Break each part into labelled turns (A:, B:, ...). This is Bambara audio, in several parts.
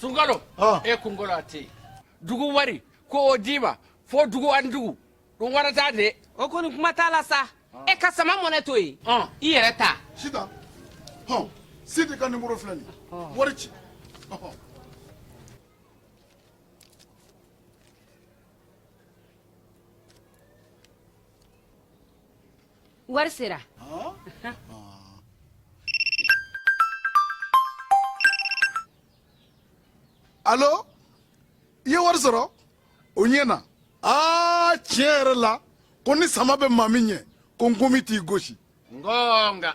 A: Sungalo ah. e kunkolo a tɛ dugu wari ko o d'i ma fo dugu ani dugu don wɛrɛ t'a de o kɔni kuma t'a la
B: sa ah. e ka Sama Money to yen ah. i yɛrɛ ta sita
C: hɔn sidi ka nimoro filɛ nin wari ci
D: Wari
C: sera alo i ye wari sɔrɔ o ɲɛna aa tiɲɛ yɛrɛ la ko ni sama bɛ maa min ɲɛ ko ngɔmi t'i gosi nka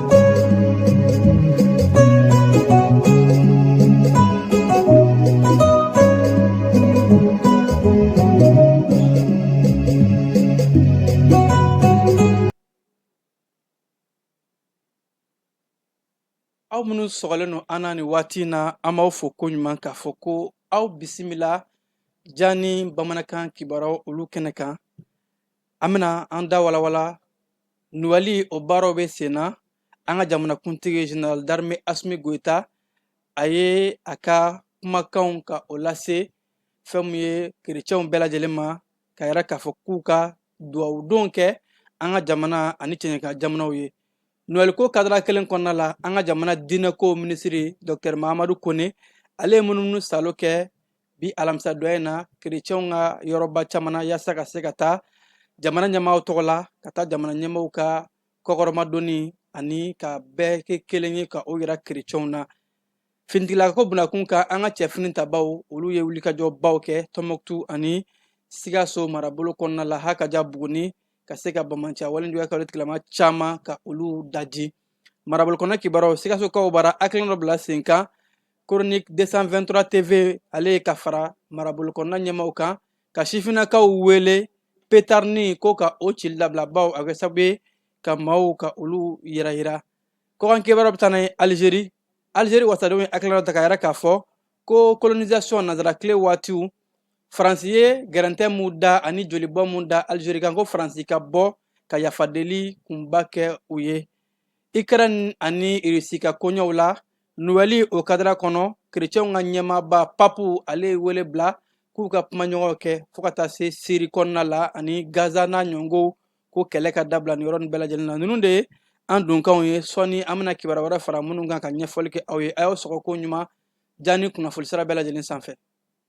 E: aw minnu sɔgɔlen don an na nin waati in na an b'aw fo ko ɲuman k'a fɔ ko aw bisimila jani bamanankan kibaruyaw olu kɛnɛ kan An bɛna an da walawala nowɛli o baaraw bɛ sen na an ka jamanakuntigi général d'armée Asimi Goyita a ye a ka kumakanw ka o lase fɛn min ye kerecɛnw bɛɛ lajɛlen ma k'a yira k'a fɔ k'u ka dugawudon kɛ an ka jamana ani cɛɲɛka jamanaw ye nowɛli ko kadara kelen kɔnɔna la an ka jamana diinɛko minisiriri dɔkitɛri Mahamadu Kone ale ye munumunusaalo kɛ bi alamisadon in na kerecɛnw ka yɔrɔba caman na yaasa ka se ka taa jamana ɲɛmaaw tɔgɔ la ka taa jamana ɲɛmaaw ka kɔkɔrɔmadonni ani ka bɛɛ kɛ kelen ye ka o yira kerecɛnw na finitigilako bunakun kan an ka cɛ finitabaw olu ye wulikajɔbaw kɛ Tɔnbɔkutu ani Sikaso marabolo kɔnɔna la hakaja Buguni ka se ka banbaanciya walenjuya kɛ olu tigilamaa caman ka olu daji marabolo kɔnɔ kibaruyaw Sikasokaw bara hakilina dɔ bila sen kan Chronique deux cent vingt-trois TV ale ye ka fara marabolo kɔnɔna ɲɛmaaw kan ka sifinnakaw wele petarinin ko ka o cili labila ba a kɛ sababu ye ka maaw ka olu yiranyiran kɔkan kibaru bɛ taa n'an ye Alizeri Alizeri wasadenw ye hakilina ta k'a yira k'a fɔ ko colonisation nansara tile waatiw faransi ye gɛrɛntɛ minnu da ani jolibɔ minnu da Alizeri kan ko faransi ka bɔ ka yafa deli kunba kɛ u ye Ukraine ani Russie ka koɲɛw la Nowɛli o kadara kɔnɔ kerecɛnw ka ɲɛmaaba papu ale ye wele bila k'u ka kumaɲɔgɔnw kɛ fo ka taa se Syrie kɔnɔna la ani Gaza n'a ɲɔgɔnw ko kɛlɛ ka dabila nin yɔrɔnin bɛɛ lajɛlen na ninnu de ye an dunkanw ye sɔɔni an bɛna kibaruya wɛrɛ fara minnu kan ka ɲɛfɔli kɛ aw ye a y'aw sɔgɔ ko ɲuman jani kunnafoni sira bɛɛ lajɛlen sanfɛ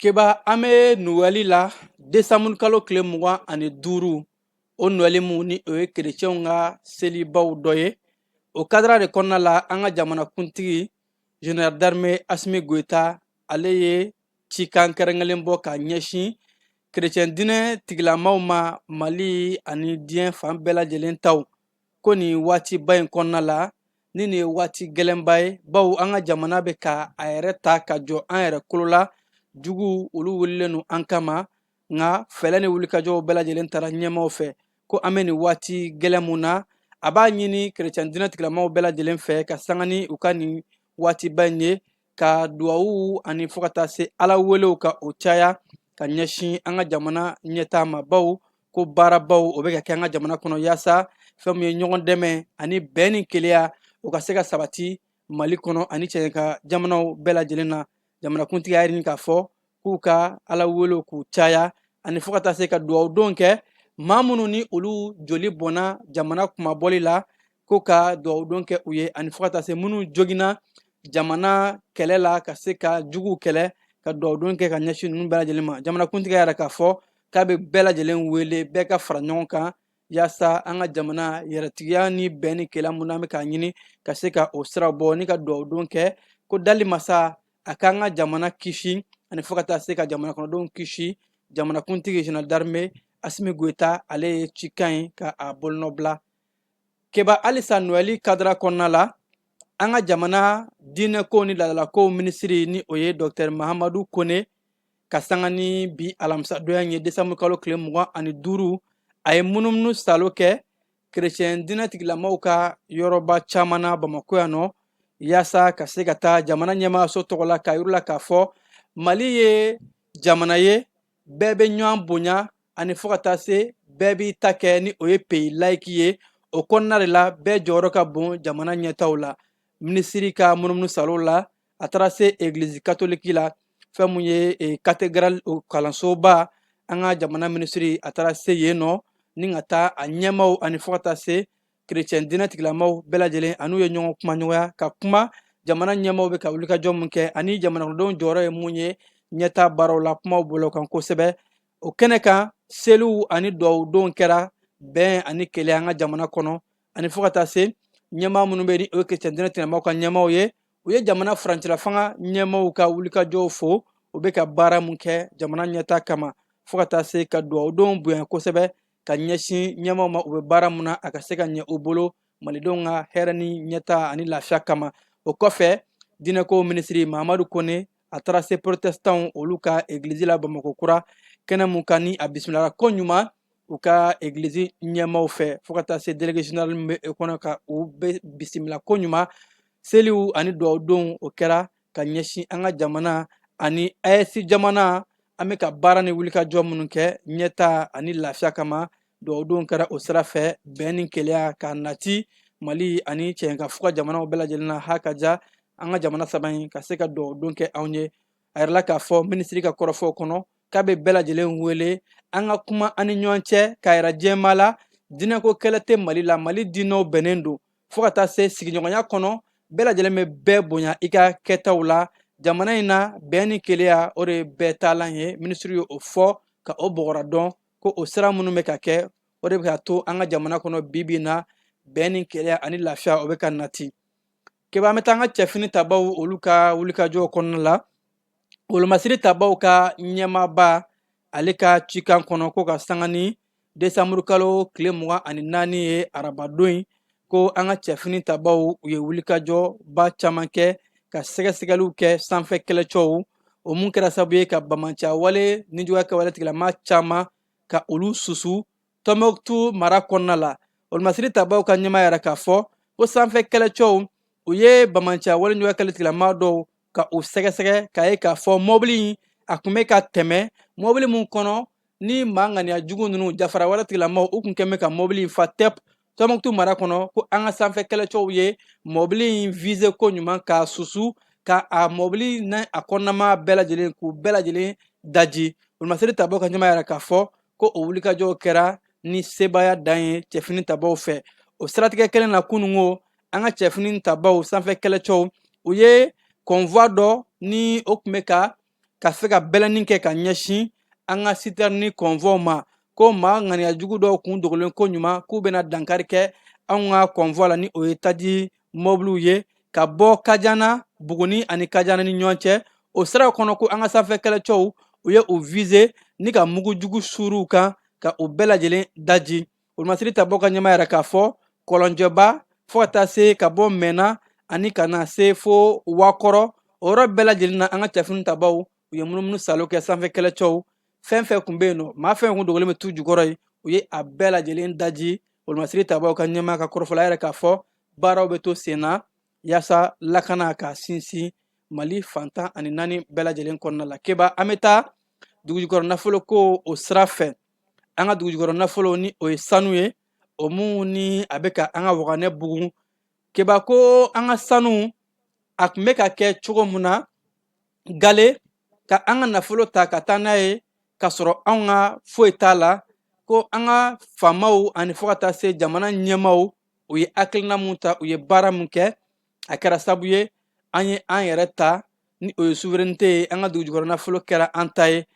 E: Keba an bɛ noɛli la desanburu kalo tile mugan ani duuru o noɛli mun ni o ye kerecɛnw ka selibaw dɔ ye o kadira de kɔnɔna la an ka jamanakuntigi general d'armée asimi goyita ale ye cikan kɛrɛnkɛrɛnlen bɔ ka ɲɛsin kerecɛn diinɛ tigilamaw ma mali ani diɲɛ fan bɛɛ lajɛlen taw ko nin waatiba in kɔnɔna la ni nin ye waati gɛlɛnba ye bawo an ka jamana bɛ ka a yɛrɛ ta ka jɔ an yɛrɛ kolo la juguw olu wulilen don an kama nka fɛɛrɛ ni wulikajɔw bɛɛ lajɛlen tara ɲɛmaaw fɛ ko an bɛ nin waati gɛlɛn mun na a b'a ɲini kerecɛn diinɛ tigilamaw bɛɛ lajɛlen fɛ ka sanga ni u ka nin waatiba in ye ka duwawu ani fo ka taa se ala welew ka o caya ka ɲɛsin an ka jamana ɲɛtaa ma bawo ko baarabaw o bɛ ka kɛ an ka jamana kɔnɔ yaasa fɛn min ye ɲɔgɔn dɛmɛ ani bɛn ni keleya o ka se ka sabati mali kɔnɔ ani cɛɲɛka jamanaw bɛɛ lajɛlen na jamanakuntigi y'a ɲini k'a fɔ k'u ka ala welew k'u caya ani fo ka taa se ka dugawu don kɛ maa minnu ni olu joli bɔnna jamana kunmabɔli la ko ka dugawu don kɛ u ye ani fo ka taa se minnu joginna jamana kɛlɛ la ka se ka juguw kɛlɛ ka dugawu don kɛ ka ɲɛsin ninnu bɛɛ lajɛlen ma jamanakuntigi y'a yira k'a fɔ k'a bɛ bɛɛ lajɛlen wele bɛɛ ka fara ɲɔgɔn kan yaasa an ka jamana yɛrɛtigiya ni bɛn ni keleya mun an bɛ k'a ɲini ka se ka o sira bɔ ni ka dugawudon kɛ ko dali masa a k'an ka jamana kisi ani fo ka taa se ka jamana kɔnɔdenw kisi jamanakuntigi general d'armée asimi goyita ale ye cikan ye ka a bolonɔbila keba halisa noɛli kadira kɔnɔna la an ka jamana diinɛkow ni laadalakow minisiri ni o ye dɔktɛr mahamadu kone ka sanga ni bi alamisadonya ye desanburu kalo tile mugan ani duuru a ye munumunu salo kɛ kerecɛn diinɛ tigilamaw ka yɔrɔba caman na bamakɔ yan nɔ yaasa ka se ka taa jamana ɲɛmaayaso tɔgɔ la k'a yir'u la k'a fɔ mali ye jamana ye bɛɛ bɛ ɲɔgɔn bonya ani fo ka taa se bɛɛ b'i ta kɛ ni o ye peyi layiki ye o kɔnɔna de la bɛɛ jɔyɔrɔ ka bon jamana ɲɛtaw la minisiri ka munumunu salo la a taara se egiliz katoliki la fɛn min ye eh, katedrali kalansoba an ka jamana minisiri a taara se yen nɔ ni ka taa a ɲɛmaaw ani fo ka taa se kerecɛn diinɛ tigilamaw bɛɛ lajɛlen an'u ye ɲɔgɔn kumaɲɔgɔnya ka kuma jamana ɲɛmaaw bɛ ka wulikajɔ min kɛ ani jamanadenw jɔyɔrɔ ye mun ye ɲɛtaa baaraw la kumaw bol'o kan kosɛbɛ o kɛnɛ kan seliw ani dugawudonw kɛra bɛn ani keleya an ka jamana kɔnɔ ani fo ka taa se ɲɛmaa minnu bɛ ni o ye kerecɛn diinɛ tigilamaw ka ɲɛmaaw ye u ye jamana furancɛla fanga ɲɛmaaw ka wulikajɔw fo u bɛ ka baara mun kɛ jamana ɲɛtaa kama fo ka taa se ka dugawudonw bonya kosɛbɛ ka ɲɛsin ɲɛmaaw ma u bɛ baara mun na a ka se ka ɲɛ u bolo malidenw ka hɛrɛ ni ɲɛtaa ani lafiya kama o kɔfɛ diinɛkow minisiri mahamadu kone a taara se porotesitanw olu ka egilizi la bamakɔ kura kɛnɛ mun kan ni a bisimilara ko ɲuman u ka egilizi ɲɛmaaw fɛ fɔ ka taa se delege zenerali min be kɔnɔ ka u be bisimila ko ɲuman seliw ani duwawudonw o kɛra ka ɲɛsin an ka jamana ani AES jamana an be ka baara ni wulikajɔ minnu kɛ ɲɛtaa ani lafiya kama Duwawudon kɛra o sira fɛ bɛn ni keleya ka nati mali ani cɛn ka fuga jamanaw bɛɛ lajɛlen na ha ka ja an ka jamana saba in ka se ka duwawudon kɛ anw ye a yirala k'a fɔ minisiri ka kɔrɔfɔw kɔnɔ k'a bɛ bɛɛ lajɛlen wele an ka kuma an ni ɲɔgɔn cɛ k'a yira jɛma la diinɛko kɛlɛ tɛ mali la mali diinɛw bɛnnen don fo ka taa se sigiɲɔgɔnya kɔnɔ bɛɛ lajɛlen bɛ bɛɛ bonya i ka kɛtaw la jamana in na bɛn ni keleya o de ye bɛɛ taalan ye minisiri ye o fɔ ka o bɔgɔra dɔn ko o sira minnu bɛ ka kɛ o de bɛ ka to an ka jamana kɔnɔ bi bi in na bɛn ni keleya ani lafiya o bɛ ka nati keba an bɛ taa an ka cɛfini tabaw olu ka wulikajɔw kɔnɔna la wolomasiri tabaw ka ɲɛmaaba ale ka cikan kɔnɔ ko ka sanga ni desanburu kalo tile mugan ani naani ye arabadon in ko an ka cɛfini tabaw u ye wulikajɔba caman kɛ ka sɛgɛsɛgɛliw kɛ sanfɛ kɛlɛcɛw o mun kɛra sababu ye ka banbaanciya wale nijuguya kɛwale tigilama caman ka olu susu tɔnbɔkutu mara kɔnɔna la wolomasiri tabaw ka ɲɛmaa y'a yira k'a fɔ ko sanfɛ kɛlɛcɛw u ye banbaanciya wale nijuguya kɛwale tigilama dɔw ka u sɛgɛsɛgɛ k'a ye k'a fɔ mɔbili in a tun bɛ ka tɛmɛ mɔbili min kɔnɔ ni maa ŋaniya jugu ninnu jafara wale tigilamaw u tun kɛn bɛ ka mɔbili in fa tɛp tɔnbɔkutu mara kɔnɔ ko an ka sanfɛ kɛlɛcɛw ye mɔbili in vize ko ɲuman k'a susu ka a mɔbili n'a kɔnɔna maa bɛɛ lajɛlen k'u bɛɛ lajɛlen daji wolomasiri tabaw ka ɲɛmaa y'a yira k'a fɔ ko o wulikajɔw kɛra ni sebaaya dan ye cɛfini tabaw fɛ o siratigɛ kelen na kunun ko an ka cɛfini tabaw sanfɛ kɛlɛcɛw u ye kɔnfwa dɔ ni o tun bɛ ka ka se ka bɛlɛnni kɛ ka ɲɛsin an ka sitɛrɛni kɔnfwaw ma ko maa ŋaniya jugu dɔw kun dogolen ko ɲuman k'u bɛna dankari kɛ anw ka kɔnfwa la ni o ye taji mɔbiliw ye ka bɔ kajana buguni ani kajana ni ɲɔgɔn cɛ o siraw kɔnɔ ko an ka sanfɛ kɛlɛcɛw u ye u vize ni ka mugu jugu suuru u kan ka u bɛɛ lajɛlen daji wolomasiri tabaw ka ɲɛmaa y'a yira k'a fɔ kɔlɔnjɛba fɔ ka taa se ka bɔ mɛnna ani ka na se fo wakɔrɔ o yɔrɔ bɛɛ lajɛlen na an ka cɛfini tabaw u ye munumunu saalo kɛ sanfɛ kɛlɛcɛw fɛn fɛn kun be yen nɔ maa fɛn kun dogolen be tu jukɔrɔ ye u ye a bɛɛ lajɛlen daji wolomasiri tabaw ka ɲɛmaa ka kɔrɔfɔ la a y'a yira k'a fɔ baaraw be to sen na yaasa lakana ka sinsin mali fan tan ani naani bɛɛ lajɛlen kɔnɔna la keba an be taa dugujukɔrɔ nafolo ko o sira fɛ an ka dugujukɔrɔ nafolo ni o ye sanu ye o mun ni a bɛ ka an ka waganɛ bugun keba ko an ka sanu a tun bɛ ka kɛ cogo min na gale ka an ka nafolo ta ka taa n'a ye k'a sɔrɔ anw ka foyi t'a la ko an ka faamaw ani fo ka taa se jamana ɲɛmaaw u ye hakilina mun ta u ye baara min kɛ a kɛra sabu ye an ye an yɛrɛ ta ni o ye souveraineté ye an ka dugujukɔrɔ nafolo kɛra an ta ye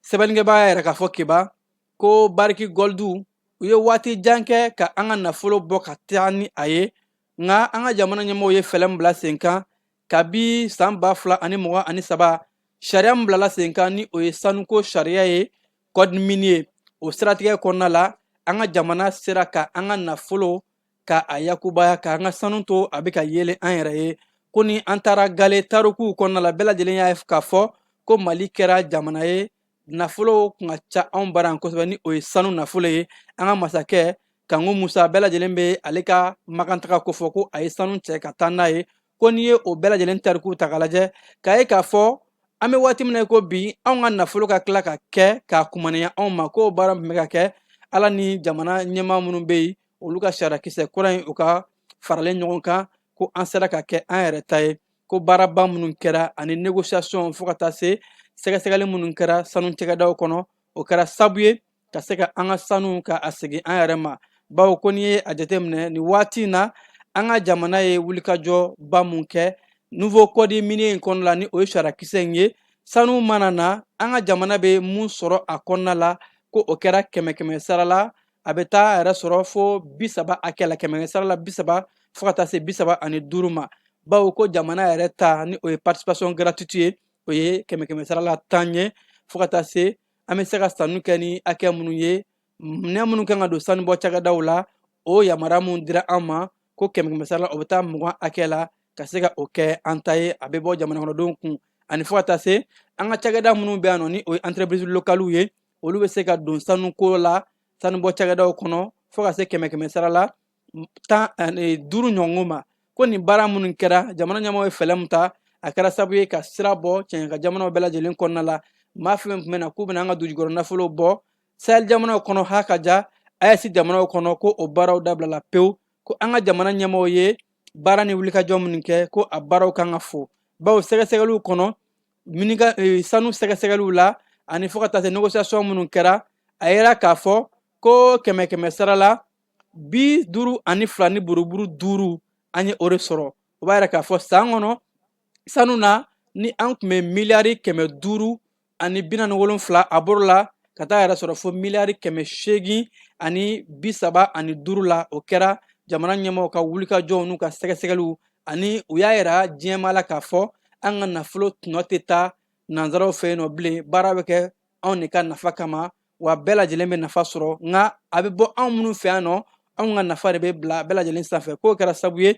E: sɛbɛnnikɛbaa y'a yira k'a fɔ keba ko barrick gold u ye waati jan kɛ ka an ka nafolo bɔ ka taa ni a ye nka an ka jamana ɲɛmɔgɔw ye fɛɛrɛ min bila sen kan kabi san ba fila ani mugan ani saba sariya min bilala sen kan ni o ye sanuko sariya ye code minier ye o siratigɛ kɔnɔna la an ka jamana sera ka an ka nafolo ka a yakubaya ka an ka sanu to a bɛ ka yeelen an yɛrɛ ye ko ni an taara gale tarikuw kɔnɔna la bɛɛ lajɛlen y'a k'a fɔ ko mali kɛra jamana ye nafolo kun ka ca anw bara yan kosɛbɛ ni o ye sanu nafolo ye an ka masakɛ kanku musa bɛɛ lajɛlen bɛ ale ka makantaga kofɔ ko a ye sanu cɛ ka taa n'a ye ko n'i ye o bɛɛ lajɛlen tarikuw ta k'a lajɛ k'a ye k'a fɔ an bɛ waati min na ko bi anw ka nafolo ka tila ka kɛ k'a kumanaya anw ma k'o baara tun bɛ ka kɛ ala ni jamana ɲɛmaa minnu bɛ yen olu ka sariyakisɛ kura in u ka faralen ɲɔgɔn kan ko an sera ka kɛ an yɛrɛ ta ye ko baaraba minnu kɛra ani négociation fo ka taa se sɛgɛsɛgɛli minnu kɛra sanu cakɛdaw kɔnɔ o kɛra sabu ye ka se ka an ka sanu ka a segin an yɛrɛ ma bawo ko n'i ye a jateminɛ nin waati in na an ka jamana ye wulikajɔba min kɛ nouveau code minier in kɔnɔna la ni o ye sariyakisɛ in ye sanu mana na an ka jamana bɛ mun sɔrɔ a kɔnɔna la ko o kɛra kɛmɛ kɛmɛ sara la a bɛ taa a yɛrɛ sɔrɔ fo bi saba hakɛ la kɛmɛ sara la bi saba fo ka taa se bi saba ani duuru ma bawo ko jamana yɛrɛ ta ni o ye participation gratuite ye o ye kɛmɛ kɛmɛ sara la tan ye fo ka taa se an bɛ se ka sanni kɛ ni hakɛ minnu ye minɛn minnu kan ka don sanubɔ cakɛdaw la o yamaruya minnu dira an ma ko kɛmɛ kɛmɛ sara la o bɛ taa mugan hakɛ la ka se ka o kɛ an ta ye a bɛ bɔ jamanakɔnɔdenw kun ani fo ka taa se an ka cakɛda minnu bɛ yan nɔ ni o ye entreprise locale ye olu bɛ se ka don sanuko la sanubɔ cakɛdaw kɔnɔ fo ka se kɛmɛ kɛmɛ sara la duuru ɲɔgɔn ma ko nin baara minnu kɛra jamana ɲɛmɔgɔw ye fɛɛrɛ min ta a kɛra sabu ye ka sira bɔ cɛncɛnkan jamanaw bɛɛ lajɛlen kɔnɔna la maa fɛn tun bɛ na k'u bɛna an ka dugujukɔrɔ nafolo bɔ sahel jamanaw kɔnɔ ha ka ja ayɛsi jamanaw kɔnɔ ko o baaraw dabilala pewu ko an ka jamana ɲɛmɔgɔw ye baara ni wulikajɔ minnu kɛ ko a baaraw kan ka fo bawo sɛgɛsɛgɛliw kɔnɔ sanu sɛgɛsɛgɛliw la ani fo ka taa se negosiyasɔn minnu kɛra a yira k'a fɔ ko kɛmɛ kɛmɛ sara la bi duuru ani fila ni buruburu duuru an ye o de sɔrɔ o b'a yira k'a fɔ san kɔnɔ sanu na ni an tun bɛ miliyari kɛmɛ duuru ani bi naani ni wolonfila a bɔr'o la ka taa yɛrɛ sɔrɔ fo miliyari kɛmɛ seegin ani bi saba ani duuru la o kɛra jamana ɲɛmɔgɔw ka wulikajɔw n'u ka sɛgɛsɛgɛliw ani u y'a yira diɲɛmaa la k'a fɔ an ka nafolo tɔnɔ tɛ taa nanzaraw fɛ yen nɔ bilen baara bɛ kɛ anw de ka nafa kama wa bɛɛ lajɛlen bɛ nafa sɔrɔ nka a bɛ bɔ anw minnu fɛ yan nɔ anw ka nafa de bɛ bila bɛɛ lajɛlen sanfɛ k'o kɛra sabu ye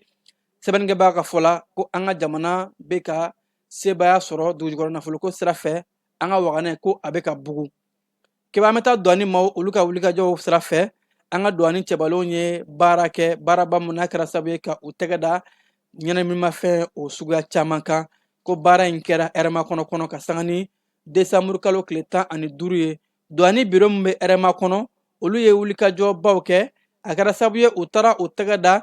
E: sɛbɛnnikɛbaa ka fɔ la ko an ka jamana bɛ ka sebaaya sɔrɔ dugujukɔrɔ nafoloko sira fɛ an ka waganɛ ko a bɛ ka bugu keba an bɛ taa duwani maaw olu ka wulikajɔw sira fɛ an ka duwani cɛbalenw ye baara kɛ baaraba mun n'a kɛra sabu ye ka u tɛgɛ da ɲɛnaminimafɛn o suguya caman kan ko baara in kɛra hɛrɛmakɔnɔ kɔnɔ ka sanga ni desanburu kalo tile tan ani duuru ye duwani biro min bɛ hɛrɛmakɔnɔ olu ye wulikajɔbaw kɛ a kɛra sabu ye u taara u tɛgɛ da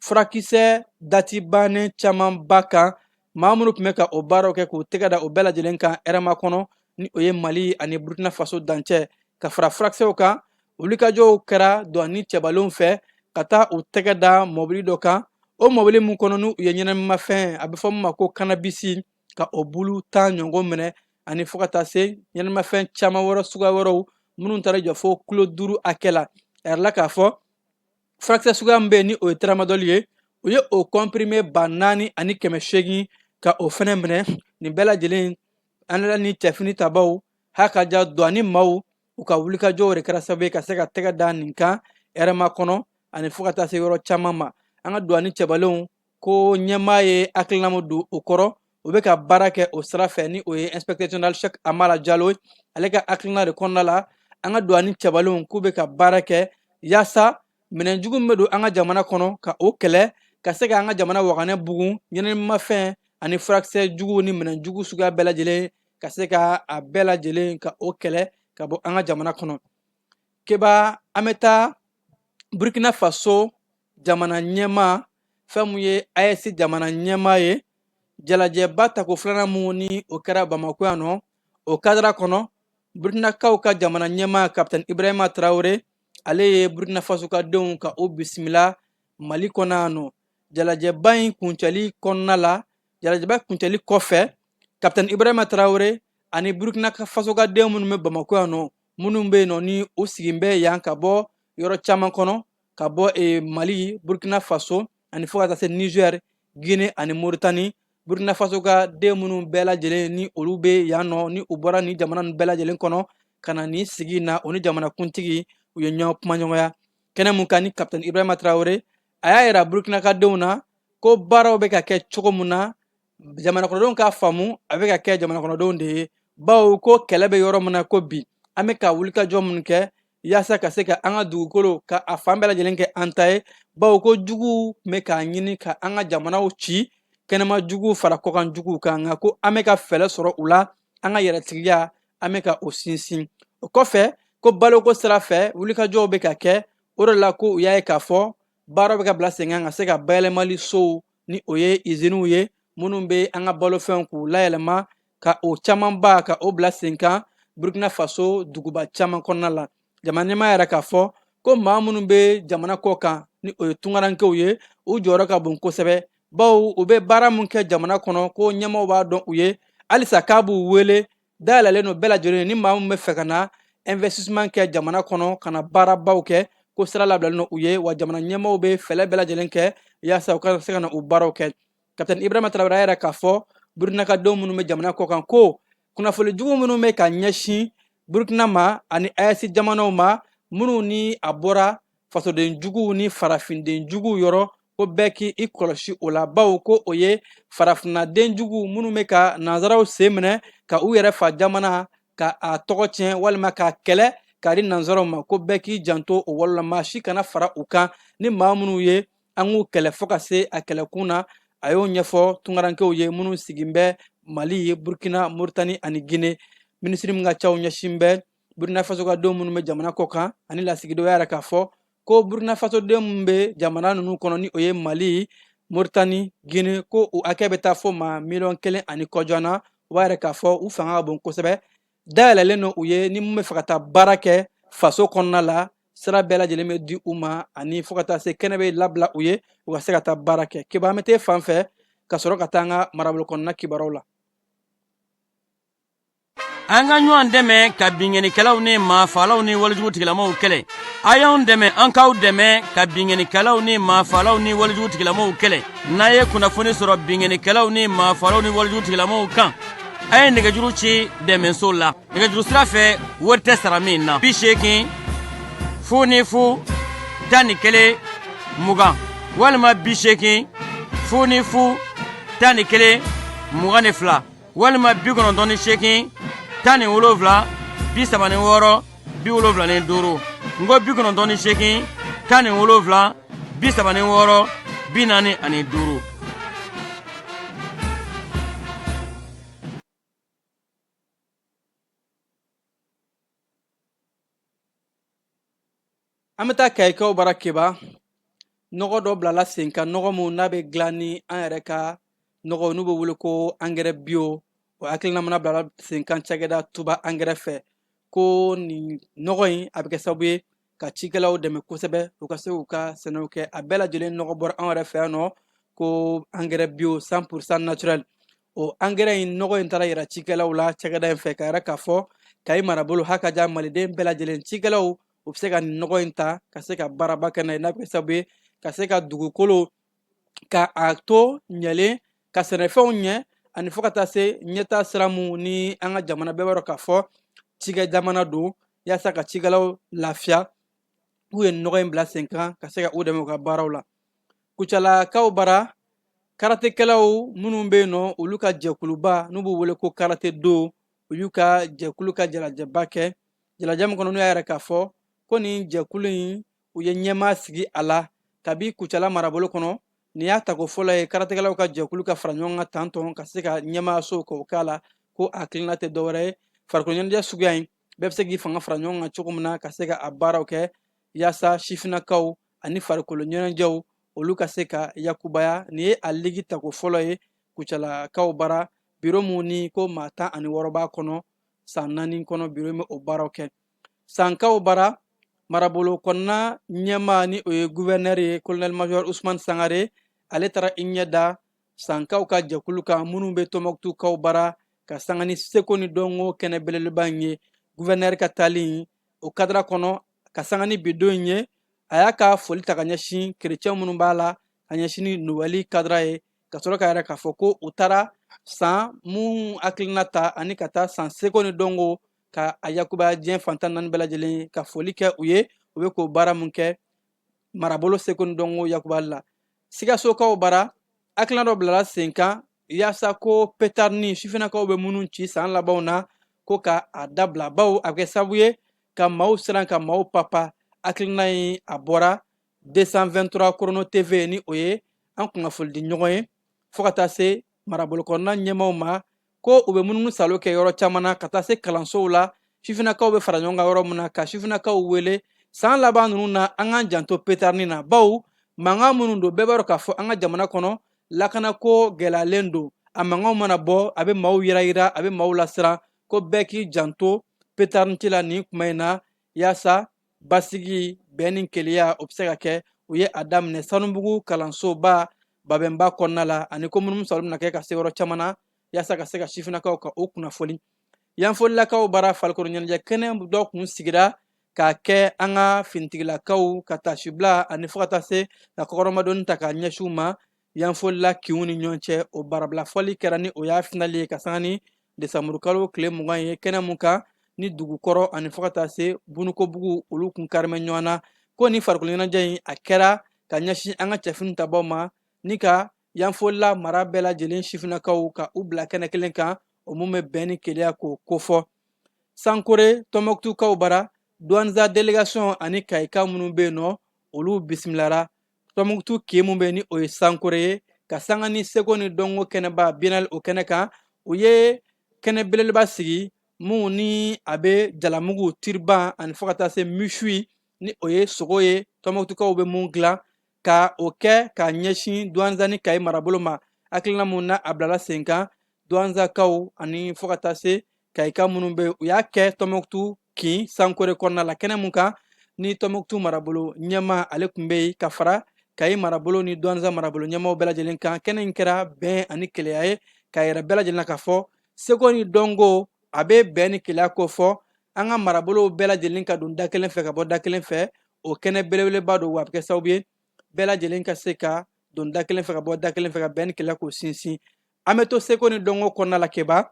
E: furakisɛ dati bannen camanba kan maa minnu tun bɛ ka o baaraw kɛ k'u tɛgɛ da o bɛɛ lajɛlen kan hɛrɛmakɔnɔ ni o ye mali ani burukina faso dancɛ ka fara furakisɛw kan o wulikajɔw kɛra duwani cɛbalenw fɛ ka taa u tɛgɛ da mɔbili dɔ kan o mɔbili min kɔnɔ n'u ye ɲɛnaminimafɛn a bɛ fɔ min ma ko kanabisi ka o bulu tan ɲɔgɔn minɛ ani fo ka taa se ɲɛnaminimafɛn caman wɛrɛ suguya wɛrɛw minnu taara jɔ fo kilo duuru hakɛ la a yirala k'a fɔ furakisɛ suguya min bɛ yen ni o ye taramadɔli ye u ye o kɔnpirime ba naani ani kɛmɛ seegin ka o fɛnɛ minɛ nin bɛɛ lajɛlen an nana ni cɛfini tabaw h'a ka ja duwani maaw u ka wulikajɔw de kɛra sababu ye ka se ka tɛgɛ da nin kan hɛrɛmakɔnɔ ani fo ka taa se yɔrɔ caman ma an ka duwani cɛbalenw ko ɲɛmaa ye hakilina mun don o kɔrɔ u bɛ ka baara kɛ o sira fɛ ni o ye inspecteur général Cheick Amala Diallo ye ale ka hakilina de kɔnɔna la an ka duwani cɛbalenw k'u bɛ ka baara kɛ yaasa minɛn jugu min bɛ don an ka jamana kɔnɔ ka o kɛlɛ ka se ka an ka jamana waganɛ bugun ɲɛnaminimafɛn ani furakisɛ juguw ni minɛn jugu suguya bɛɛ lajɛlen ka se ka a bɛɛ lajɛlen ka o kɛlɛ ka bɔ an ka jamana kɔnɔ keba an bɛ taa burkina faso jamana ɲɛmaa fɛn mun ye AES jamana ɲɛmaa ye jalajɛba tako filanan mun ni o kɛra bamakɔ yan nɔ o kadira kɔnɔ burukinakaw ka jamana ɲɛmaa kapitɛn ibrahima tarawele ale ye burukinafasokadenw ka o bisimila mali kɔnɔ yan nɔ jalajɛba in kuncɛli kɔnɔna la jalajɛba kuncɛli kɔfɛ kapitɛn ibrahima tarawele ani burukinafasokaden minnu bɛ bamakɔ yan nɔ minnu bɛ yen nɔ ni u sigilen bɛ yan ka bɔ yɔrɔ caman kɔnɔ ka bɔ mali burukina faso ani fo ka taa se nizɛri gine ani moritani burukina faso ka den minnu bɛɛ lajɛlen ni olu bɛ yan nɔ ni u bɔra nin jamana ninnu bɛɛ lajɛlen kɔnɔ ka na nin sigi na o ni jamanakuntigi u ye ɲɔgɔn kumaɲɔgɔnya kɛnɛ mun kan ni kapitɛn ibrahima tarawele a y'a yira burukinakadenw na ko baaraw bɛ ka kɛ cogo min na jamanakɔnɔdenw k'a faamu a bɛ ka kɛ jamanakɔnɔdenw de ye bawo ko kɛlɛ bɛ yɔrɔ min na ko bi an bɛ ka wulikajɔ minnu kɛ yaasa ka se ka an ka dugukolo ka a fan bɛɛ lajɛlen kɛ an ta ye bawo ko juguw bɛ k'a ɲini ka an ka jamanaw ci kɛnɛma juguw fara kɔkan juguw kan nka ko an bɛ ka fɛɛrɛ sɔrɔ u la an ka yɛrɛtigiya an bɛ ka o sinsin o kɔfɛ ko baloko sira fɛ wulikajɔw bɛ ka kɛ o de la ko u y'a ye k'a fɔ baaraw bɛ ka bila sen kan ka se ka bayɛlɛmali sow ni o ye iziniw ye minnu bɛ an ka balofɛnw k'u layɛlɛma ka o camanba ka o bila sen kan burkina faso duguba caman kɔnɔna la jamana ɲɛmaa yɛrɛ k'a fɔ ko maa minnu bɛ jamana kɔ kan ni o ye tunkarankew ye u jɔyɔrɔ ka bon kosɛbɛ bawo u bɛ baara min kɛ jamana kɔnɔ ko ɲɛmaaw b'a dɔn u ye halisa k'a b'u wele dayɛlɛlen don bɛɛ lajɛlen ye ni maa min bɛ fɛ ka na investissement kɛ jamana kɔnɔ ka na baarabaw kɛ ko sira labilalen don u ye wa jamana ɲɛmaaw bɛ fɛɛrɛ bɛɛ lajɛlen kɛ yaasa u ka se ka na u baaraw kɛ kapitɛni ibrahima tarawele y'a yira k'a fɔ burukinakadenw minnu bɛ jamana kɔ kan ko kunnafoni jugu minnu bɛ ka ɲɛsin burukina ma ani ayɛsi jamanaw ma minnu ni a bɔra fasoden juguw ni farafinden juguw yɔrɔ ko bɛɛ k'i kɔlɔsi o la bawo ko o ye farafinna den juguw minnu bɛ ka nanzaraw sen minɛ ka u yɛrɛ fa jamana ka a tɔgɔ tiɲɛ walima k'a kɛlɛ k'a di nanzaraw ma ko bɛɛ k'i janto o wale la maa si kana fara u kan ni maa minnu ye an k'u kɛlɛ fo ka se a kɛlɛkun na a y'o ɲɛfɔ tunkarankew ye minnu sigin bɛ mali burkina moritani ani gine minisiri min ka caw ɲɛsin bɛ burkina faso ka denw minnu bɛ jamana kɔ kan ani lasigidenw y'a yira k'a fɔ ko burkina faso denw minnu bɛ jamana ninnu kɔnɔ ni o ye mali moritani gine ko u hakɛ bɛ taa fo maa miliyɔn kelen ani kɔjan na u b'a yira k'a fɔ u fanga ka bon kosɛbɛ dayɛlɛlen don u ye ni mun bɛ fɛ ka taa baara kɛ faso kɔnɔna la sira bɛɛ lajɛlen bɛ di u ma ani fo ka taa se kɛnɛ bɛ labila u ye u ka se ka taa baara kɛ kiba an bɛ taa fan fɛ ka sɔrɔ ka taa an ka marabolo kɔnɔna kibaruw la
F: an ka ɲɔgɔn dɛmɛ ka binkannikɛlaw ni maafalaw ni walejugutigilamaw kɛlɛ a y'an dɛmɛ an k'aw dɛmɛ ka binkannikɛlaw ni maafalaw ni walejugutigilamaw kɛlɛ n'a ye kunnafoni sɔrɔ binkannikɛlaw ni maafalaw ni walejugutigilamaw kan a ye nɛgɛjuru ci dɛmɛso la nɛgɛjuru sira fɛ wari tɛ sara min na bi seegin fu ni fu tan ni kelen mugan walima bi seegin fu ni fu tan ni kelen mugan ni fila walima bi kɔnɔntɔn ni seegin tan ni wolonwula bi saba ni wɔɔrɔ bi wolonwula ni duuru n ko bi kɔnɔntɔn ni seegin tan ni wolonwula bi saba ni wɔɔrɔ bi naani ani duuru
E: An bɛ taa kayikaw bara keba nɔgɔ dɔ bilala sen kan nɔgɔ min n'a bɛ dilan ni an yɛrɛ ka nɔgɔ n'u bɛ wele ko angɛrɛ bio o hakilina mana bilala senkan cakɛda tuba angɛrɛ fɛ ko nin nɔgɔ in a bɛ kɛ sababu ye ka cikɛlaw dɛmɛ kosɛbɛ u ka se k'u ka sɛnɛw kɛ a bɛɛ lajɛlen nɔgɔ bɔra an yɛrɛ fɛ yan nɔ ko angɛrɛ bio cent pour cent naturel o angɛrɛ in nɔgɔ in taara yira cikɛlaw la cakɛda in fɛ k'a yira k'a fɔ kayi marabolo hakaja maliden bɛɛ lajɛlen cikɛlaw u bɛ se ka nin nɔgɔ in ta ka se ka baaraba kɛ n'a ye n'a bɛ kɛ sababu ye ka se ka dugukolo ka a to ɲɛlen ka sɛnɛfɛnw ɲɛ ani fo ka taa se ɲɛtaa sira mun ni an ka jamana bɛɛ b'a dɔn k'a fɔ cikɛ jamana don yaasa ka cikɛlaw lafiya k'u ye nɔgɔ in bila sen kan ka se ka u dɛmɛ u ka baaraw la kucalakaw bara karatekɛlaw minnu bɛ yen nɔ olu ka jɛkuluba n'u b'u wele ko karate do u y'u ka jɛkulu ka jalajɛba kɛ jalajɛ min kɔnɔ n'u y'a yira k'a fɔ ko nin jɛkulu in u ye ɲɛmaa sigi a la kabi kucala marabolo kɔnɔ nin y'a tako fɔlɔ ye karatekɛlaw ka jɛkulu ka fara ɲɔgɔn kan tantɔn ka se ka ɲɛmaayaso k'o k'a la ko a hakilina tɛ dɔwɛrɛ ye farikolo ɲɛnajɛ suguya in bɛɛ bɛ se k'i fanga fara ɲɔgɔn kan cogo min na ka se ka a baaraw kɛ yaasa sifinnakaw ani farikolo ɲɛnajɛw olu ka se ka yakubaya nin ye a ligi tako fɔlɔ ye kucalakaw bara biro mun ni ko maa tan ani wɔɔrɔ b'a kɔnɔ san naani kɔnɔ biro in bɛ o baaraw kɛ sankaw bara marabolo kɔnɔna ɲɛmaa ni o ye guvɛnɛri ye kolonɛli majɔri usumani sangare ale taara i ɲɛ da sankaw ka jɛkulu kan minnu bɛ tɔnbukutukaw bara ka sanga ni seko ni dɔnko kɛnɛ belebeleba in ye guvɛnɛri ka taali in o kadara kɔnɔ ka sanga ni bi don in ye a y'a ka foli ta ka ɲɛsin kerecɛn minnu b'a la ka ɲɛsin ni nowɛli kadara ye ka sɔrɔ k'a yira k'a fɔ ko u taara san mun hakilina ta ani ka taa san seko ni dɔnko ka a yakubaya diɲɛ fan tan naani bɛɛ lajɛlen ka foli kɛ u ye u bɛ k'o baara mun kɛ marabolo seko ni dɔnko yakubali la Sikasokaw bara hakilina dɔ bilala senkan yaasa ko petari ni sifinnakaw bɛ minnu ci san labanw na ko ka a dabila bawo a bɛ kɛ sabu ye ka maaw siran ka maaw papa hakilina in a bɔra 223 chrono tv ni o ye an kunnafonidi ɲɔgɔn ye fo ka taa se marabolokɔnɔna ɲɛmaaw ma ko u bɛ munumunu salo kɛ yɔrɔ caman na ka taa se kalansow la sifinnakaw bɛ fara ɲɔgɔn kan yɔrɔ min na ka sifinnakaw wele san laban ninnu na an k'an janto petarni na bawo mankan minnu don bɛɛ b'a dɔn k'a fɔ an ka jamana kɔnɔ lakanako gɛlɛyalen don a mankanw mana bɔ a bɛ maaw yirayira a bɛ maaw lasiran ko bɛɛ k'i janto petarni ci la nin kuma in na yaasa basigi bɛn ni keleya o bɛ se ka kɛ u ye a daminɛ sanubugu kalansoba babɛnba kɔnɔna la ani ko munumunu salo bɛna kɛ ka se yɔrɔ caman na yaasa ka se ka sifinnakaw ka o kunnafoni yanfolilakaw bara farikolo ɲɛnajɛ kɛnɛ dɔ kun sigira k'a kɛ an ka finitigilakaw ka taasibila ani fo ka taa se ka kɔkɔrɔmadonni ta k'a ɲɛsin u ma Yanfolila kinw ni ɲɔgɔn cɛ o barabila fɔli kɛra ni o y'a finali ye ka sanga ni desanburukalo tile mugan ye kɛnɛ mun kan ni dugukɔrɔ ani fo ka taa se bunukobugu olu kun karimɛ ɲɔgɔn na ko ni farikoloɲɛnajɛ in a kɛra ka ɲɛsin an ka cɛfini tabaw ma ni ka yanfolila mara bɛɛ lajɛlen sifinnakaw ka u bila kɛnɛ kelen kan o mun bɛ bɛn ni keleya k'o kofɔ sankore tɔnbukutukaw bara duwanza delegation ani kayika minnu bɛ yen nɔ olu bisimilara tɔnbukutu kin mun bɛ ni o ye sankore ye ka sanga ni seko ni dɔnko kɛnɛba biyenali o kɛnɛ kan u ye kɛnɛ belebeleba sigi mun ni a bɛ jalamugu tiriban ani fo ka taa se misui ni o ye sogo ye tɔnbukutukaw bɛ mun dilan ka o kɛ ka ɲɛsin duwanza ni kayi marabolo ma hakilina mun na a bilala senkan duwanzakaw ani fo ka taa se kayika minnu bɛ u y'a kɛ tɔnbukutu kin sankore kɔnɔna la kɛnɛ mun kan ni tɔnbukutu marabolo ɲɛmaa ale tun bɛ yen ka fara kayi marabolo ni duwanza marabolo ɲɛmaaw bɛɛ lajɛlen kan kɛnɛ in kɛra bɛn ani keleya ye k'a yira bɛɛ lajɛlen na k'a fɔ seko ni dɔnko a bɛ bɛn ni keleya kofɔ an ka marabolow bɛɛ lajɛlen ka don da kelen fɛ ka bɔ da kelen fɛ o kɛnɛ belebeleba don wa a bɛ kɛ sababu ye bɛɛ lajɛlen ka se ka don da kelen fɛ ka bɔ da kelen fɛ ka bɛn ni keleya k'o sinsin an bɛ to seko ni dɔnko kɔnɔna la keba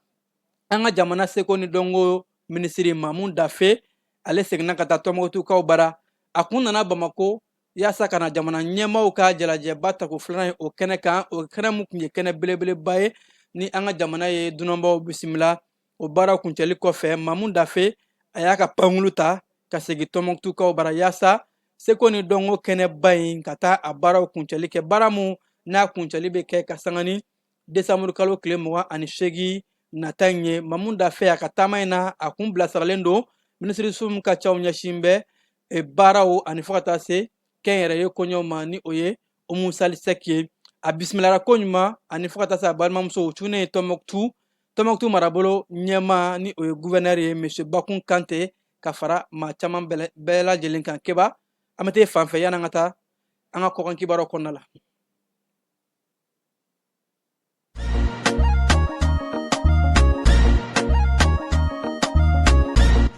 E: an ka jamana seko ni dɔnko minisiri mamu dafe ale seginna ka taa tɔnbukutukaw bara a kun nana bamako yaasa ka na jamana ɲɛmaaw ka jamalajɛba tako filanan ye o kɛnɛ kan o kɛnɛ min tun ye kɛnɛ belebeleba ye ni an ka jamana ye dunanbaw bisimila o baara kuncɛli kɔfɛ mamu dafe a y'a ka pankulu ta ka segin tɔnbukutukaw bara yaasa seko ni dɔnko kɛnɛba in ka taa a baaraw kuncɛli kɛ baara min n'a kuncɛli bɛ kɛ ka sanga ni desanburu kalo tile mugan ani seegin nata in ye mamu dafe a ka taama in na a kun bilasiralen don minisiriso min ka caw ɲɛsin bɛ e, baaraw ani fo ka taa se kɛnyɛrɛye koɲɛw ma ni o ye umu sali sɛki ye a bisimilara ko ɲuman ani fo ka taa se a balimamusow cunen ye tɔnbukutu tɔnbukutu marabolo ɲɛmaa ni o ye guvɛnɛri ye misiye bakun kante ka fara maa caman bɛɛ lajɛlen kan keba an bɛ taa fan fɛ yanni an ka taa an ka kɔkan kibaruyaw kɔnɔna la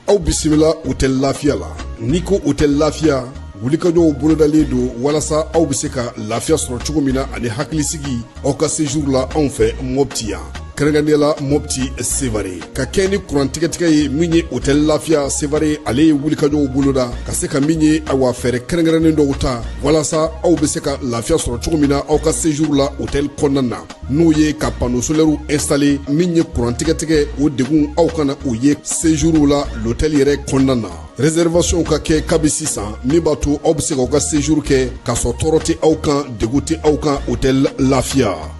G: aw bisimila otɛli lafiya la n'i ko otɛli lafiya wulikajɔw bolodalen don walasa aw bɛ se ka lafiya sɔrɔ cogo min na ani hakilisigi aw ka sejuru la anw fɛ mɔpti yan kɛrɛnkɛrɛnnenya la mɔpti sevare ka kɛɲɛ ni kurantigɛtigɛ ye min ye otɛli lafiya sevare ale ye wulikajɔw boloda ka se ka min ye awa fɛɛrɛ kɛrɛnkɛrɛnnen dɔw ta walasa aw bɛ se ka lafiya sɔrɔ cogo min na aw ka sejuru la otɛli kɔnɔna na n'o ye ka pano solɛriw instale min ye kurantigɛtigɛ o degun aw kana o ye sejuruw la lotɛli yɛrɛ kɔnɔna na reservation ka kɛ kabi sisan min b'a to aw bɛ se k'aw ka sejuru kɛ k'a sɔrɔ tɔɔrɔ tɛ aw kan degun tɛ aw kan otɛli lafiya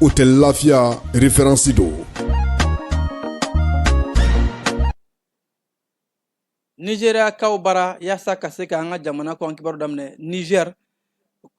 G: otɛli lafiya referansi
E: don nizeriyakaw bara yaasa ka se ka an ka jamana kɔkan kibaru daminɛ niger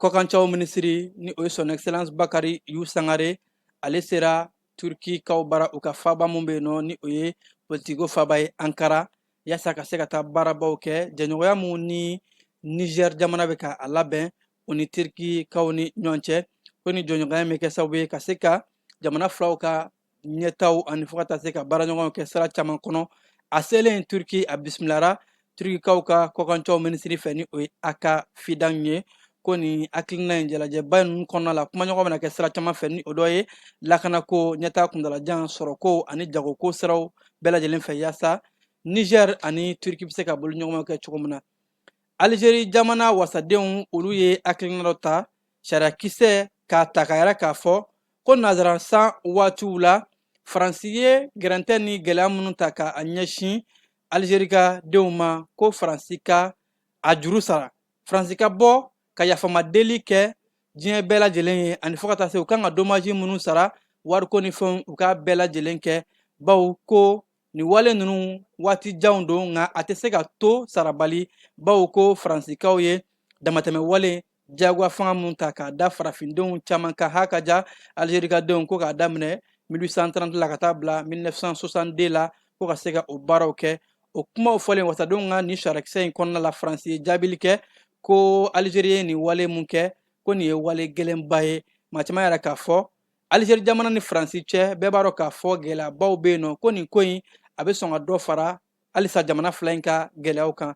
E: kɔkancaw minisiri ni o ye son excellence bakari yawu sangare ale sera turkikaw bara u ka faba min bɛ yen nɔ ni o ye politikiko faba ye ankara yaasa ka se ka taa baarabaw kɛ jɛɲɔgɔnya min ni niger jamana bɛ ka a labɛn u ni turkikaw ni ɲɔgɔn cɛ ko ni jɛɲɔgɔnya bɛ kɛ sababu ye ka se ka jamana filaw ka ɲɛtaa ani fo ka taa se ka baaraɲɔgɔnw kɛ sira caman kɔnɔ a selen turki a bisimilara turkikaw ka kɔkancaw minisiri fɛ ni o ye hakan fidan ye ko nin hakilina ye jalajɛba ninnu kɔnɔna la kumaɲɔgɔn bɛna kɛ sira caman fɛ ni o dɔ ye lakanako ɲɛtaa kuntaalajan sɔrɔko ani jagoko siraw bɛɛ lajɛlen fɛ yaasa niger ani turki bɛ se ka bolo ɲɔgɔnma kɛ cogo min na alizeri jamana wasadenw olu ye hakilina dɔ ta sariyakisɛ k'a ta k'a yira k'a fɔ ko nazara san waatiw la faransi ye gɛrɛntɛ ni gɛlɛya minnu ta ka a ɲɛsin alizeri ka denw ma ko faransi ka a juru sara faransi ka bɔ ka yafama deli kɛ diɲɛ bɛɛ lajɛlen ye ani fo ka taa se u kan ka domaji minnu sara wariko ni fɛnw u k'a bɛɛ lajɛlen kɛ bawo ko Nin wale ninnu waati janw don nka a tɛ se ka to sarabali bawo ko faransikaw ye damatɛmɛ wale jagoya fanga min ta k'a da farafindenw caman kan ha ka ja alizerikadenw ko k'a daminɛ 1830 la ka taa bila 1962 la ko ka se ka o baaraw kɛ o kumaw fɔlen wasadenw ka nin sariyakisɛ in kɔnɔna la faransi ye jaabili kɛ ko alizeri ye nin wale mun kɛ ko nin ye wale gɛlɛnba ye maa caman yɛrɛ k'a fɔ Alizeri jamana ni Faransi cɛ bɛɛ b'a dɔn k'a fɔ gɛlɛyabaw bɛ yen nɔ ko nin ko in a bɛ sɔn ka dɔ fara halisa jamana fila in ka gɛlɛyaw kan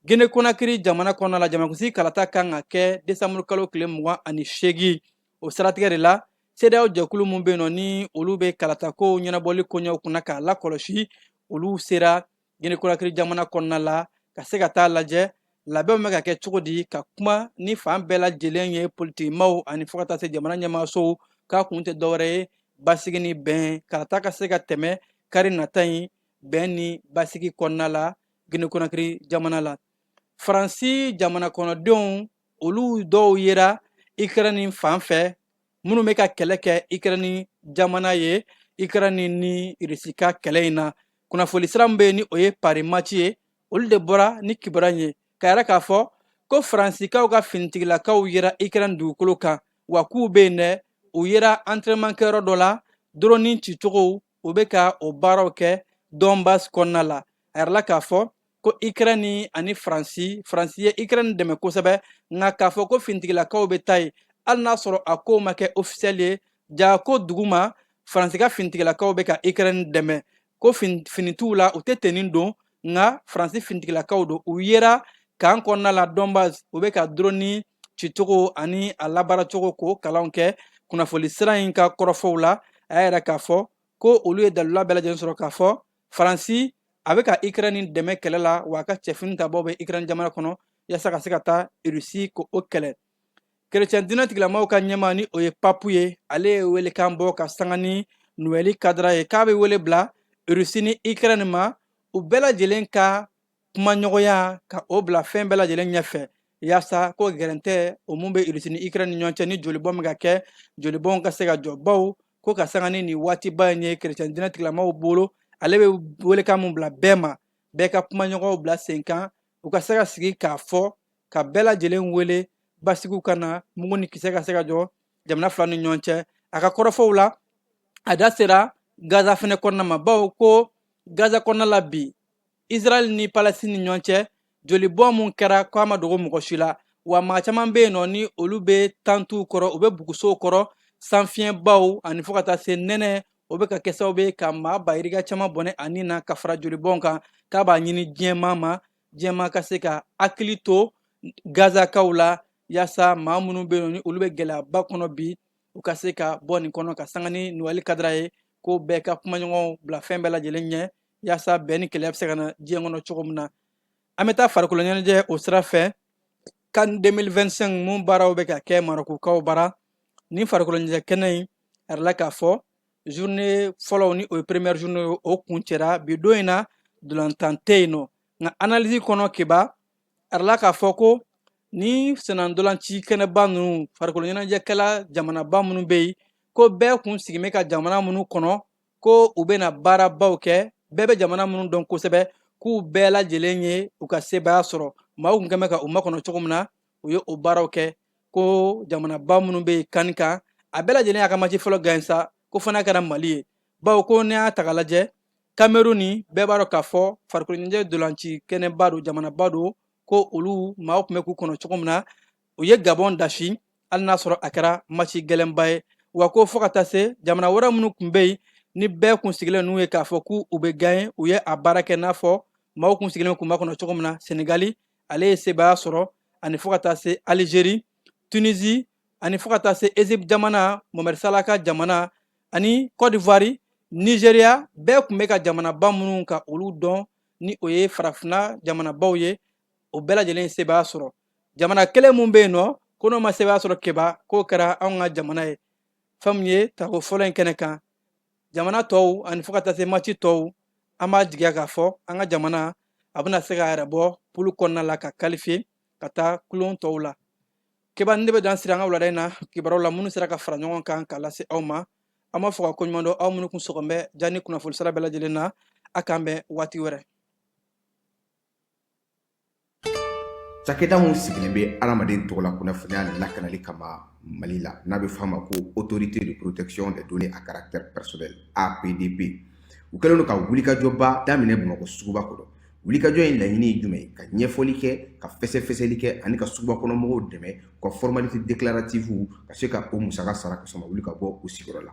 E: Gine Konakiri jamana kɔnɔna la jamanakunsigi kalata kan ka kɛ desanburu kalo tile mugan ani seegin o siratigɛ de la CEDEAO jɛkulu min bɛ yen nɔ ni olu bɛ kalatakow ɲɛnabɔli koɲɛw kunna k'a lakɔlɔsi olu sera Guinée-Conakry jamana kɔnɔna la ka se ka taa lajɛ labɛnw bɛ ka kɛ cogo di ka kuma ni fan bɛɛ lajɛlen ye politikimaw ani fo ka taa se jamana ɲɛmaasow k'a kun tɛ dɔwɛrɛ ye basigi ni bɛn kalata ka se ka tɛmɛ kari nata in bɛn ni basigi kɔnɔna la Guinée-Conakry jamana la faransi jamana kɔnɔdenw olu dɔw yera Ukraine fan fɛ minnu bɛ ka kɛlɛ kɛ ikɛrɛni jamana ye ikɛrɛni ni irisi ka kɛlɛ in na kunnafoni sira min bɛ yen ni o ye Paris Match ye olu de bɔra ni kibaruya ye k'a yira k'a fɔ ko faransikaw ka finitigilakaw yera ikɛrɛni dugukolo kan wa k'u bɛ yen dɛ u yera entraînement kɛyɔrɔ dɔ la doroni cicogow u bɛ ka o baaraw kɛ dɔnbas kɔnɔna la a yirala k'a fɔ ko ikrɛni ani faransi faransi ye ikrɛni dɛmɛ kosɛbɛ nka k'a fɔ ko finitigilakaw bɛ taa yen hali n'a sɔrɔ a kow ma kɛ ofisɛli ye jaa ko duguma faransi ka finitigilakaw bɛ ka ikrɛni dɛmɛ ko fini t'u la u tɛ teni don nka faransi finitigilakaw don u yera kan kɔnɔna la dɔnbas u bɛ ka droni cicogo ani a labaaracogo k'o kalanw kɛ kunnafoni sira in ka kɔrɔfɔw la a y'a yira k'a fɔ ko olu ye dalula bɛɛ lajɛlen sɔrɔ k'a fɔ faransi a bɛ ka ikrɛni dɛmɛ kɛlɛ la wa a ka cɛfini tabaw bɛ ikrɛni jamana kɔnɔ yaasa ka se ka taa irisi k'o kɛlɛ kerecɛn diinɛtigilamaw ka ɲɛmaa ni o ye papu ye ale ye welekan bɔ ka sanga ni nuwɛli kadara ye k'a bɛ wele bila rusi ni ikrɛni ma u bɛɛ lajɛlen ka kumaɲɔgɔnya ka o bila fɛn bɛɛ lajɛlen ɲɛfɛ yaasa ko gɛrɛntɛ o mun bɛ rusi ni ikrɛni ni ɲɔgɔn cɛ ni jolibɔn bɛ ka kɛ jolibɔn ka se ka jɔ bawo ko ka sanga ni nin waatiba in ye kerecɛn diinɛtigilamaw bolo ale bɛ welekan min bila bɛɛ ma bɛɛ ka kumaɲɔgɔnw bila sen kan u ka se ka sigi k'a fɔ ka bɛɛ lajɛlen wele basigiw ka na mugu ni kisɛ ka se ka jɔ jamana fila ni ɲɔgɔn cɛ a ka kɔrɔfɔw la a da sera gaza fɛnɛ kɔnɔna ma bawo ko gaza kɔnɔna la bi israɛl ni palɛstin ni ɲɔgɔn cɛ jolibɔn mun kɛra ko a ma dogo mɔgɔ si la wa maa caman bɛ yen nɔ ni olu bɛ tantuw kɔrɔ u bɛ bugusow kɔrɔ sanfiɲɛbaw ani fo ka taa se nɛnɛ o bɛ ka kɛ sababu ye ka maa ba yirika caman bɔnɛ a ni na ka fara jolibɔn kan k'a b'a ɲini diɲɛmaa ma diɲɛmaa ka se ka hakili to gazakaw la yaasa maa minnu bɛ yen ni olu bɛ gɛlɛyaba kɔnɔ bi u ka se ka bɔ nin kɔnɔ ka sanga ni nuwɛli kadara ye ko bɛɛ ka kumaɲɔgɔnw bila fɛn bɛɛ lajɛlen ɲɛ yaasa bɛn ni kelenya bɛ se ka na diɲɛ kɔnɔ cogo min na an bɛ taa farikolo ɲɛnajɛ o sira fɛ CAN 2025 mun baaraw bɛ ka kɛ marokukaw bara ni farikolo ɲɛnajɛ kɛnɛ in a yirala k'a fɔ journée fɔlɔw ni o ye première journée ye o kuncɛra bi don in na ntolatan tɛ yen nɔ nka analyse kɔnɔ keba a yirala k'a fɔ ko ni sennantolaci kɛnɛba ninnu farikolo ɲɛnajɛkɛla jamanaba minnu bɛ yen ko bɛɛ kun sigin bɛ ka jamana minnu kɔnɔ ko u bɛna baarabaw kɛ bɛɛ bɛ jamana minnu dɔn kosɛbɛ k'u bɛɛ lajɛlen ye u ka sebaaya sɔrɔ maaw tun bɛ ka u makɔnɔ cogo min na u ye o baaraw kɛ ko jamanaba minnu bɛ yen kan in kan a bɛɛ lajɛlen y'a ka mati fɔlɔ gaɲe sa ko fana kɛra mali ye bawo ko n'i y'a ta k'a lajɛ kameruni bɛɛ b'a dɔn k'a fɔ farikoloɲɛnajɛ ntolaci kɛnɛba don jamanaba don ko olu maaw tun bɛ k'u kɔnɔ cogo min na u ye gabɔn dasi hali n'a sɔrɔ a kɛra mati gɛlɛnba ye wa ko fo ka taa se jamana wɛrɛ minnu tun bɛ yen ni bɛɛ kun sigilen n'u ye k'a fɔ k'u u bɛ gaɲe u ye a baara kɛ n'a fɔ maaw kun sigilen k'u makɔnɔ cogo min na senegali ale ye sebaaya sɔrɔ ani fo ka taa se alizeri tunisi ani fo ka taa se ezipti jamana mohamɛdi sala ka jamana ani kɔdivuwari nizeriya bɛɛ kun bɛ ka jamanaba minnu ka olu dɔn ni o ye farafina jamanabaw ye o bɛɛ lajɛlen ye sebaaya sɔrɔ jamana kelen min bɛ yen nɔ ko n'o ma sebaaya sɔrɔ keba k'o kɛra anw ka jamana ye fɛn min ye tako fɔlɔ in kɛnɛ kan jamana tɔw ani fo ka taa se mati tɔw an b'a jigiya k'a fɔ an ka jamana a bɛna se k'a yɛrɛ bɔ pulu kɔnɔna la ka kalifiye ka taa kulon tɔw la keba nin de bɛ dan siri an ka wulada in na kibaruw la minnu sera ka fara ɲɔgɔn kan k'a lase aw ma an b'a fɔ ka ko ɲuman dɔn aw minnu kun sɔgɔn bɛ ja ni kunnafoni sira bɛɛ lajɛlen na a k'an bɛn waati wɛrɛ
H: Cakɛda mun sigilen bɛ adamaden tɔgɔ la kunnafoniya lakanali kama Mali la n'a bɛ f'a ma ko autorité de protection des données à caractère personnel, APDP, u kɛlen don ka wulikajɔba daminɛ Bamakɔ suguba kɔnɔ. Wulikajɔ in laɲini ye jumɛn ye? Ka ɲɛfɔli kɛ, ka fɛsɛfɛsɛli kɛ ani ka suguba kɔnɔ mɔgɔw dɛmɛ u ka formalité déclarative ka se ka o musaka sara ka sɔrɔ u ma wuli ka bɔ u sigiyɔrɔ la.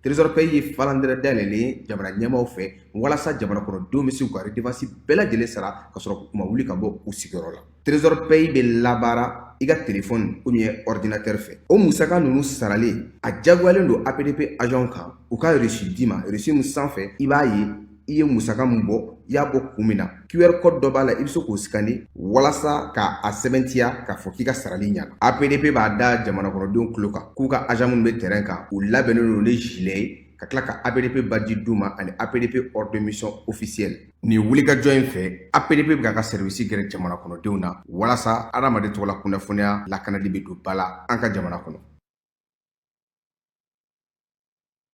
H: Trésor Pay ye falandɛrɛ dayɛlɛlen ye jamana ɲɛmaaw fɛ walasa jamana kɔnɔdenw bɛ se k'u ka redevance bɛɛ lajɛlen sara ka sɔrɔ k'u ma wuli ka bɔ u sigiyɔrɔ la. Trésor Pay bɛ labaara i ka telefɔni ou bien ɔridinatɛri fɛ. O musaka ninnu saralen, a diyagoyalen don APDP agents kan u ka reçu d'i ma, reçu min sanfɛ i b'a ye i ye musaka min bɔ i y'a bɔ kun min na qr code dɔ b'a la i bɛ se k'o sikani walasa ka a sɛbɛntiya k'a fɔ k'i ka sarali ɲana apdp b'a da jamanakɔnɔdenw tulo kan k'u ka agent minnu bɛ terrain kan u labɛnnen don ni jilɛ ye ka tila ka apdp badge d'u ma ani apdp ordre de mission officielle nin wulikajɔ in fɛ apdp bɛ k'a ka sɛriwisi gɛrɛ jamana kɔnɔdenw na walasa adamaden tɔgɔla kunnafoniya lakanali bɛ don ba la an ka jamana kɔnɔ